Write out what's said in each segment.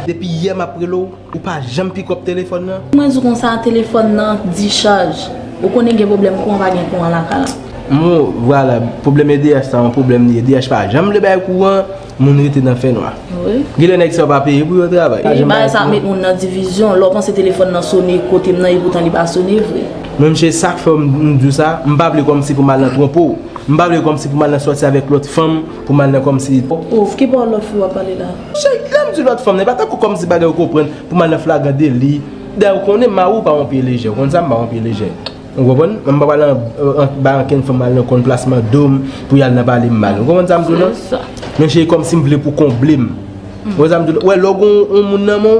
Depi yè map rele w ou pa janm pikòp telefòn nan. Mwen di w konsa telefòn nan dichaj. Ou konnen gen pwoblèm kouran pa gen kouran lakay la. Mwen w vwala pwoblèm edh sa yon pwoblèm li ye edh pa janm vle bay kouran moun rete nan fè nwa. Gen lè nèg sa yo pa peye pou yo travay. Wi bagay sa met moun nan divizyon lè w panse telefòn nan sone kote m nan epoutan li pa sone vre. Men mnchè sak fè m di w sa m pa vle kòmsi pou m al nan twonpe w. M pa vle kòmsi pou m al nan sòti avèk lòt fanm pou m al nan kòmsi. Ouff ki bò lòt fi wap pale la. Monchè lèm di lòt fanm nan e pa tankou kòmsi bagay yo konprann pou mal nan flagran deli dayè ou konnen mariw pa yon pye lejè ou konn sa m pa yon pye lejè ou konprann m pa pral bay ankenn fanm mal nan konn plasman dom pou yal nan palem mal ou konprann sa m di w nan men cheri kòmsi m vle pou konblem ou wè sa m di w nan ou wè lè ou gen yon moun nan menw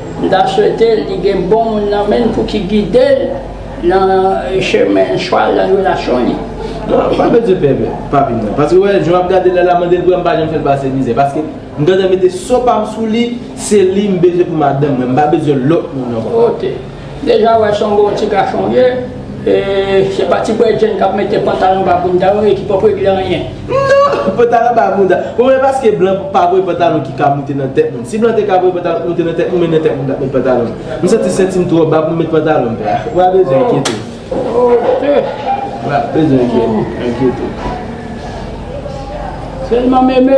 M ta swete l li gen bon moun nan men l pou ki gide l nan chemen chwa l nan relasyon li. Non, m pa bezwen pè papi m nan. Paske ou wè jan m ap gade l la, l ap mande l pou m pa janm fè l pase mizè. Paske m gentan mete so pa m sou li, se li m bezwen pou madanm mwen. M pa bezwen lòt moun ankò. Ote. Deja wè son bon ti gason w ye e se pa ti bredjenn kap mete pantalon anba bounda yo e ki pap regle anyen. Non! Pantalon anba bounda. Bon men paske blan pa voye pantalon ki ka moute nan tèt moun. Si blan te ka voye pantalon k moute nan tèt moun men nan tèt moun tap met pantalon. M santi senti m twò ba pou m met pantalon m pè a. Ou pa bezwen enkyete w. Ou pa bezwen enkyete w. Selman meme.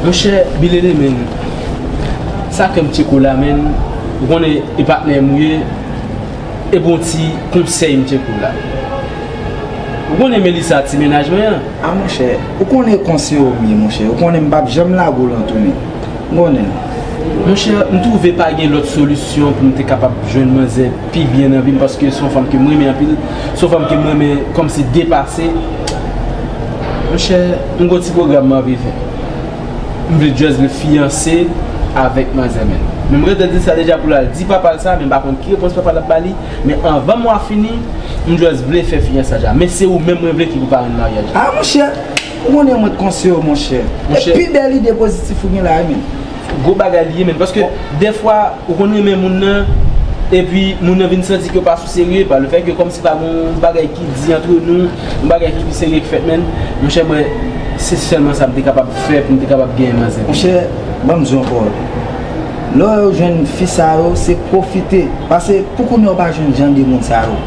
Monchè bilele menn sa kèm tye kou la menn ou konnen e patnèm ou ye ebon yon ti konsèy mtye kou la ou konnen Melissa ti mennaj mwen an. A monchè ou konnen konseye'm ye monchè ou konnen mpap janm lago'l antounen ou konnen. Monchè mtwouve pa gen lòt solisyon poum te kapab jwenn manzè pi byen nan vim paske son fanm kem renmen anpil son fanm kem renmen kòmsi depase monchè. M gon ti program mwen anvi fè. M vle just vle fiyanse avèk manzè men. Men m ret dan di sa deja pou l al di papa l sa men m pa konn ki repons papa l ap ba li men anvan mwa fini m just vle fè fiyansaj la men se ou menm mwen vle ki pou parenn maryaj la. Ah monchè, ou konnen mwen t konsew ou monchè. E pi bèl ide pozitif ou gen la wi menn. Gwo bagay li ye menn paske dèfwa. Ou konn renmen moun nan, epi moun nan vin santi ke ou pa sou serye, pa le fè ke kòmsi pa gon yon bagay ki di antre nou, yon bagay ki pi serye ki fèt menn, monchè mwen, se sèlman sa m te kapab fè pou m te kapab genyen manzè. Monchè, ban m di w ankò, lè w jwenn fi sa yo, se pwofite, pase pou kounye a ou pa jwenn jan de moun sa yo.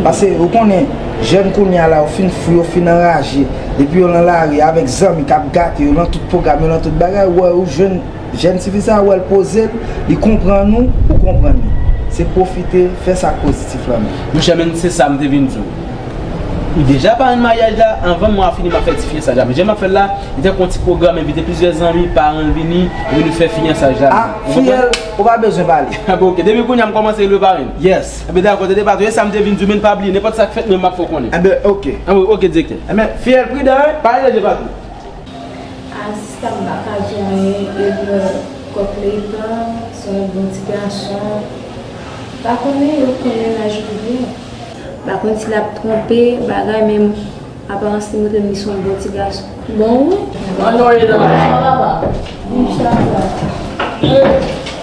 Pase ou konnen, jèn kounye a la yo fin fou, yo fin anraje, epi yo lan lari avèk zanmi k ap gate yo lan tout pwogram yo, lan tout bagay, ou wè ou jwenn. Jèn tifi sa wèl pozel li konprann ou ou konprann li se pwofite fè sak pozitif lan menm. Monchè menm se sam te vin diw ou deja parenn maryaj la anvan mwa fini map fè ti fiyesaj la men jan map fèl la li tankou yon ti pwogram envite plizyè zanmi paranl vini epi nou fè fiyansaj la ah fiyèl ou pa bezwen pale ah bon ok depi kounya m kòmanse relew parenn yes enben dakò tande patron esam te vin diw menn pa bliye nenpòt sak fèt menm map fè w konnen enben ok enben ok direktè enben fiyèl pridan hein pale de patron. Artiste m paka jwenn Edme kòk Leytan se yon bon ti gason pa konnen yo konn mennaj li byen. Pa konn si lap tronpe bagay men aparans li montrem li son bon ti gason. Bon wi. An non e nan. Sa va papa? Viv chak jou a sa.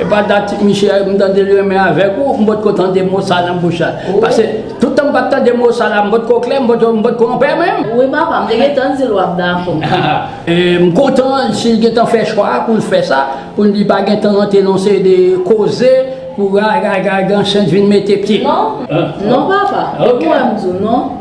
Epa dat misye m tande li renmen avèk ou m potko tande mo sa nan bouch la pase tout tan m pat tande mo sa la m potko klè m potko anpè menm. Wi papa m te gentan di l wap dakò. M kontan si l gentan fè chwa a pou l fè sa pou li pa gentan rantre nan yon seri de koze pou rara gansan vin mete pye. Non non papa ou pa wè m di w non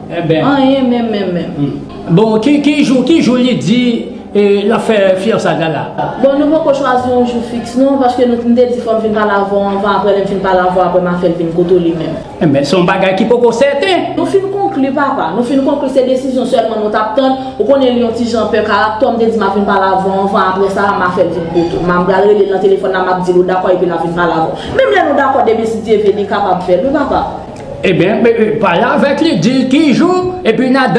anyen menm menm menm. Bon ki jou li di. E lap fè fiyansay la la. Bon nou poko chwazi yon jou fiks non paske nou m te di fòm vin pale avèw anvan aprè lèm fin pale avèw aprè ma fèl vin kote w li menm. Enben son bagay ki poko sèten. Nou fin konkli papa, nou fin konkli se desizyon sèlman nou tap tann, ou konnen li yon ti jan pè karaktè w m te di ma vin pale avèw anvan aprè sa ma fèl vin kote w ma pral relel nan telefòn la map dil ou dakò epi la vin pale avèw menm lè nou dakò demen si Dye vle li kapab fèl wi papa. Ebyen pale avèk li dil ki jou epi na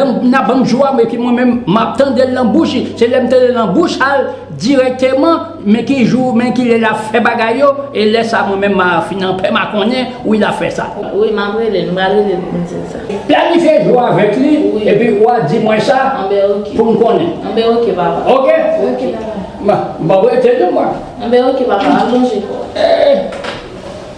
banm jou a epi mwen menm map tandel nan bouch li se lèm tandel nan bouch al dirèkteman men ki jou men kilè lap fè bagay yo e lè sa mwen menm ma fin anpè ma konnen wi lap fè sa. Wi map relel m pral relel poum dil sa. Planifye jou avèk li epi wa di mwen sa poum konnen. Anben ok papa. Ok. Ok papa. M pap rete non mwen. Anben ok papa al lonje kòw.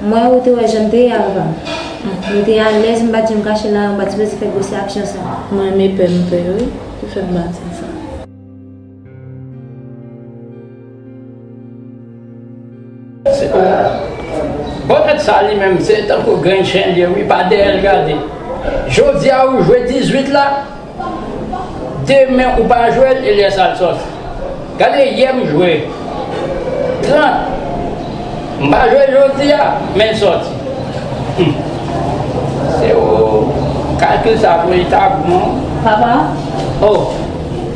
Mwen wè ou te wè jan m te ye avoka m. M te alèz m pa t janm kache la a, m pa t sipoze fè gwosè aksyon sa a. Mwen renmen pè m pè yo wi ki fè m pa di l sa. Se o Bonèt sa li menm se tankou grenn chen l ye wi pa dèyè l gade. Jodi a ou jwe 18 la? Demen ou pa jwel Elias Alsos. Gade yè m jwe 30 m pa jwe jodi a men l sòti humm se ou kalkil sa pou li ta bon an. Papa. Oh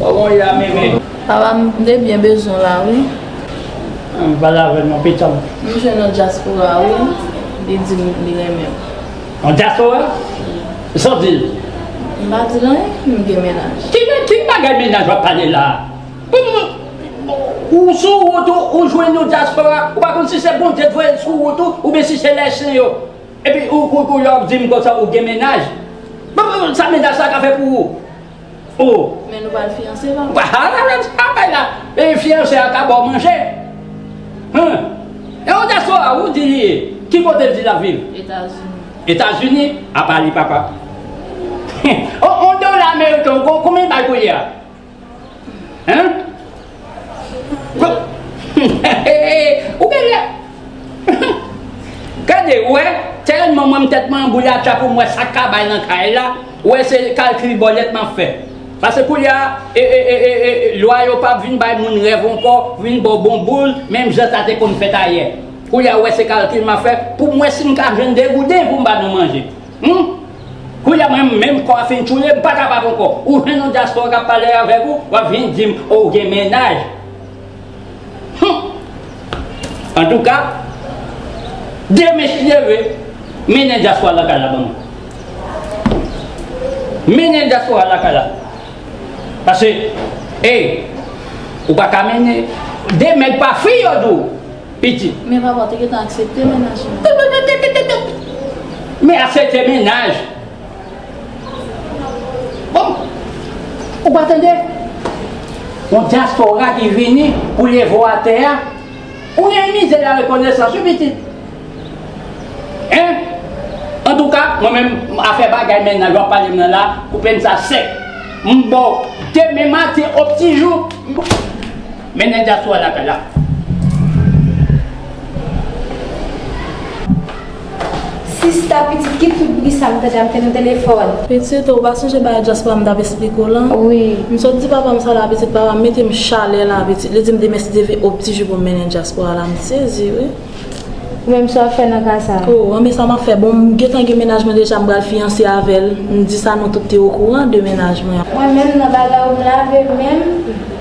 koman ya mimi. Papa m te byen bezwen w la wi. Ann pale avè m non pitanm. M jwenn yon dyaspora wi li di m li renmen m. An diaspora? Sa w di l? M pa di l anyen, m gen mennaj. Ki bagay mennaj w ap pale la? Ou sou wout ou, ou jwenn yon diaspora, ou pa konn si se Bondye t voye l sou wout ou oubyen si se lè sen yo. Epi ou la w ap di m konsa ou gen mennaj? Sa mennaj sa ka fè pou ou? Oh! Men nou pral fiyanse la. Wa ha la la sa bay la. E fiyanse a ka baw manje. Huh! E yon diaspora ou di li ye? Ki kote l di lap viv? Etazini. Etazini? A pa li papa. Huh! On dola ameriken ou konbyen l bay koulye a? Huh! Ou gen lè Gade wè Tèlman mwen m tèt mwen anbouyi atcha pou m wè sa k ka bay nan kay la Wè se kalkil bòlèt m ap fè Pase koulye a Lwa yo pa vin bay moun rèv ankò Vin ba w bonbon Menm jan sa te konn fèt ayè Koulye a wè se kalkil m ap fè Pou m wè si m ka jwenn 2 gouden pou m ba nou manje Humm! Kounya mwen menm kò a fin tchoule m pa kapab ankò. Ou jwenn yon dyaspora k ap pale avèk ou, w ap vin di m o w gen mennaj. Humm! Antouka, de mech leve, mennen dyaspora lakay la ban mwen. Mennen dyaspora lakay la. Pase, ey, ou pa ka mennen de mèg pa fi yo di w. Pitit. Men papa w te gentan aksepte mennaj lan. Pipipipipipip! Men aksepte mennaj. Bon! Ou pa tande? Yon dyaspora ki vini pou leve w atè a. Ou gen mize larekonesans wi pitit. Hein? Antouka, mwen menm, afè bagay mennaj w ap pale m nan la, koupe m sa sèk. M ba w demen maten o ptijou. Men nèg dyaspora lakay la. Sista pitit ki tout bri sa m tande a m te nan telefòn. Pitit ou pa sonje bagay dyaspora m tap esplike w lan? Wi. M sot di papa m sa la pitit papa m mete m chalè la pitit li di m demen si Dye vle ob ti jou pou m mennen dyaspora la m sezi wi. Ou menm sa w ap fè nan ka sa? Oh anben sa m ap fè bon m gentan gen mennaj mwen deja m pral fiyanse avè l m di sa nou tout te okouran de mennaj mwen. Mwen menm nan bagay ou m lave menm.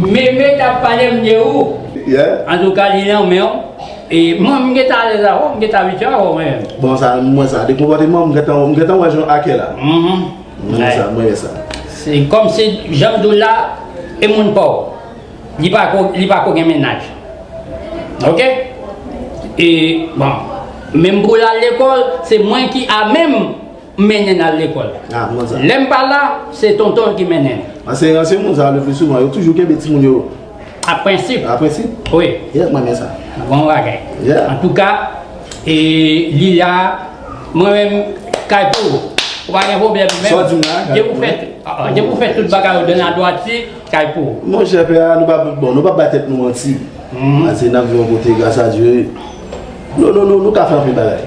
Meme tap palem de ou. Yeah. Antouka li nan menw e mwen m gentan alèz avèw m gentan abitye avèw mwen menm. Bon sa m wè sa de konpòtemanw m gentan m gentan wè jan ake la. Mwen renmen sa mwen renmen sa. Se kòmsi janm diw la e moun paw li pa ko li pa ko gen mennaj ok e bon menm poul al lekòl se mwen ki amenm M mennen l al lekòl. Lè m pa la, se tonton l ki mennen l. Anseyan se moun sa a lepli souvan. Yo toujou kenbe timoun yo. A prensip. A prensip? Wi. Yè, m renmen sa. Bon bagay. Yè. Antouka, e li la, mwen menm, kay pou ou. Ou pa gen pwoblèm menm. Sa w di m la, kay pou ou. Depi w fè tout bagay ou dan la dwati, kay pou ou. Mon chè, pè a, nou pa bon, nou pa bay tèt nou manti. Anseyan nan viv yon kote, gras a Dye. Nou ka fè anpil bagay.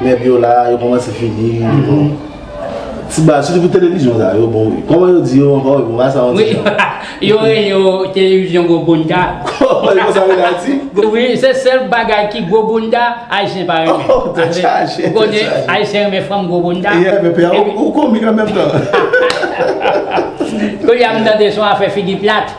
Nèg yo la, yo kòmanse fini, bon. Ti bal, sitou pou televizyon sa yo, bon. Kòman yo di yo ankò, bon, ba sa yon ti jan. Wi, yo rele yo televizyon gwo bounda. Kòman yo sa rele Ayiti? Wi, se sèl bagay ki gwo bounda, Ayisyen pa renmen. Oh, tè chaje, tè chaje. Ayisyen renmen fanm gwo bounda. Ye, men pè, ou komik an menm tan. Kou li a m tande son afè figi plat.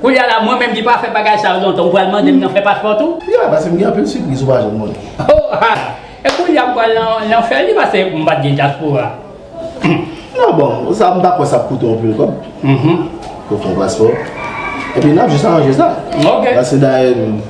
Koulya la mwen menm ki pa fè bagay sa yo lontan ou pral mandem nan fè paspò tou? Yeah pase m gen anpil sipriz ou pa janm konnen. Oh ha! E koulya m pral nan lanfè ui pase m pat gen dyaspora. Non bon, sa m pa kwè sa ap koute w anpil kòb pou w fè yon paspò. Epi n ap jis aranje sa. Ok. Pase dayè m.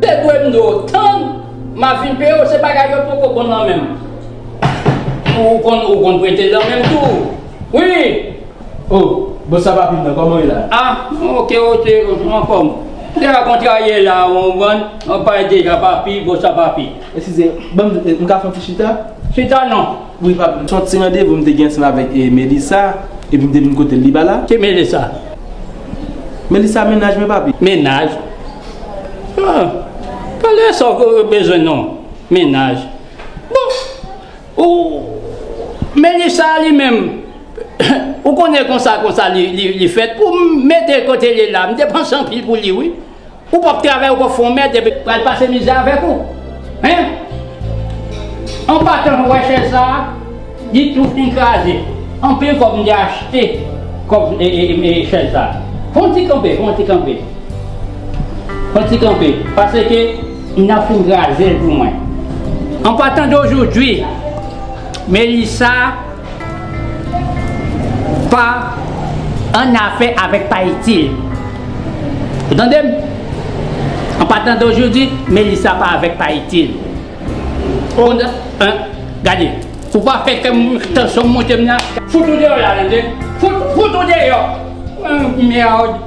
Te dwe mnde w tann ma vin peye w se bagay yo poko bon nan menm ou konn ou konn prete dan menm tou wi. Oh bon sa pa pil nan koman ye la. Ah ok ok anfom deja kontrarye la ou konprann ou pale deja papi bon sa papi. Eskize banm mka fon ti chita. Chita non. Wi pap, m son ti randevou m te gen ansanm avèk Melissa epi m te vin kote l li pa la. Ki Melissa? Melissa mennaj mwen papi. Mennaj? Ahh pale sa w bezwen non, mennaj. Bon ou Melissa li menm ou konnen konsa konsa li fèt pou m mete l kote li la m depanse anpil pou li wi. Ou pap travay ou pap fon mèd epi pral pase mizè avèk ou hein En patan mwen wè chèz sa li tou fin kraze anpil kòb mte achte kòb chèz sa fon ti kanpe fon ti kanpe fon ti kanpe paseke nan fin krazel pou mwen En patan dojodwi Melissa. Pa annafè avèk pa itil. Ou tande m? An patan de ojodi, Melisa pa avèk pa itil. Ou tande? Hein? Gade, ou pa fè kè m, tansyon m monte m nan. Fout ou deyò la, tande! Fout ou deyò! Mèwd!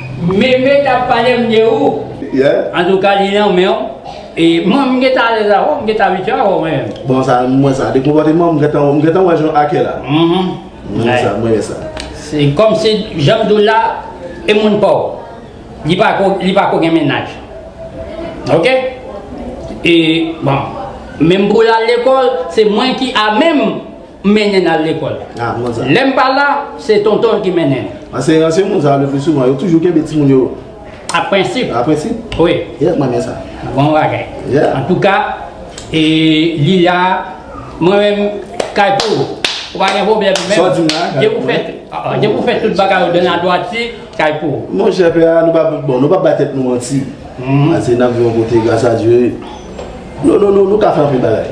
Meme tap palem de ou. Yeah. Antouka li nan menw e mom m gentan alèz avèw m gentan abitye avèw mwen menm. Bon sa m wè sa de konpòtemanw m gentan m gentan wè jan ake la. Mwen wè sa mwen wè sa. Se kòmsi janm diw la e moun paw li pa ko li pa ko gen mennaj ok e bon menm poul al lekòl se mwen ki amenm. M mennen l al lekòl. Lè m pa la, se tonton l ki mennen l. Anseyan se moun sa a lepli souvan. Yo toujou kenbe timoun yo. A prensip. A prensip? Wi. Yè, m renmen sa. Bon bagay. Yè. Antouka, e li la, mwen menm, kay pou ou. Ou pa gen pwoblèm menm. Sa w di m la, kay pou mwen. Depi w fè tout bagay ou dan la dwati, kay pou ou. Mon chè, pè a, nou pa, bon, nou pa bay tèt nou manti. Anseyan n ap viv yon kote, gras a Dye. Nou, nou, nou, nou ka fè anpil bagay.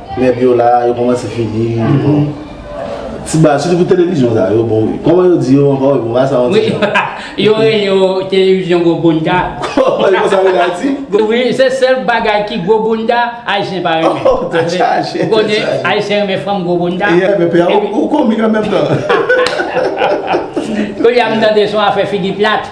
Nèg yo la, yo kòmanse fini, bon. Ti baz, sitou pou televizyon sa yo, bon. Kòman yo di yo ankò, bon, ba sa yon ti jan. Yo rele yo televizyon gwo bounda. Kòman yo sa rele Ayiti? Wi, se sèl bagay ki gwo bounda, Ayisyen pa renmen. Oh, tèt chaje, tèt chaje. Ou konnen, Ayisyen renmen fanm gwo bounda. Ye, men pè a, ou komik an menm tan. Koulye a m tande son afè figi plat.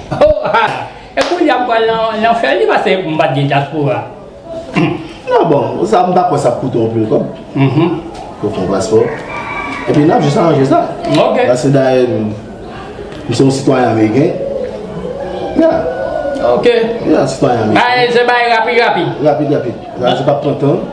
Oh ha! E kounya m pral nan lanfè li pase m pat gen dyaspora. Non bon, sa m pa kwè sa ap koute w anpil kòb. Pou fè yon paspò. Epi n ap jis aranje sa. Ok. Pase dayè m se yon sitwayen ameriken. Yeah. Ok. Yeah, sitwayen ameriken. Bagay se bagay rapid rapid. Rapid rapid. Bagay se pa p pran tan.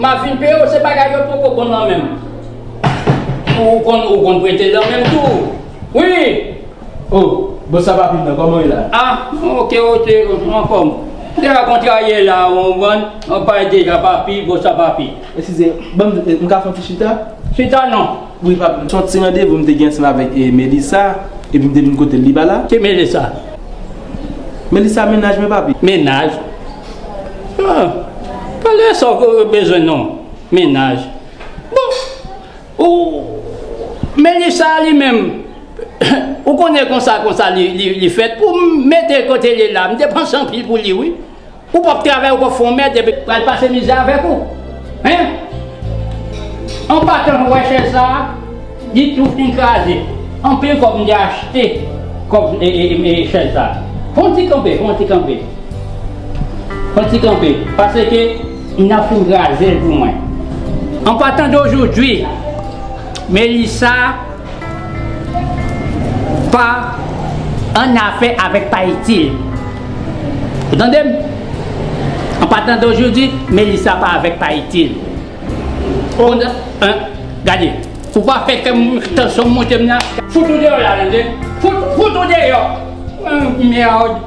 Map vin peyew se bagay yo poko bon nan menm ou konn ou konn prete dan menm tou wi oh bon sa papi nan komanw ye la. Ah ok ok ou anfom. Deja kontrarye la ou konprann ou pale deja papi bon sa papi. Eskize banm m ka fon ti chita. Chita non. Wi papi son ti randevou m te gen ansanm avèk Melissa epi m te vin kotel li pa la. Ki Melissa? Melissa menaj mwen papi. Menaj? Pale sa w bezwen non mennaj. Bon ou Mennij sa li menm ou konnen konsa konsa li fèt pou m mete kote l ye la. M depanse anpil pou li wi. Ou p ap travay ou p ap fè yon mèd epi pral pase mizè avèk ou. Hein! An patan pou wè chèz sa a, li tou fin kraze. Anpil kòb m te achte kòb chèz sa. Fè yon ti kanpe, fè yon ti kanpe. Fè yon ti kanpe. Paseke n ap fin kraze l pou mwen. An patan dojodwi, Melissa. Pa annafè avèk pa itil. Ou tande m? An patan de ojodi, Melisa pa avèk pa itil. O! Gade, ou pa fè kè m, tansyon m monte m nan. Fout ou deyò la, tande! Fout ou deyò! Merd!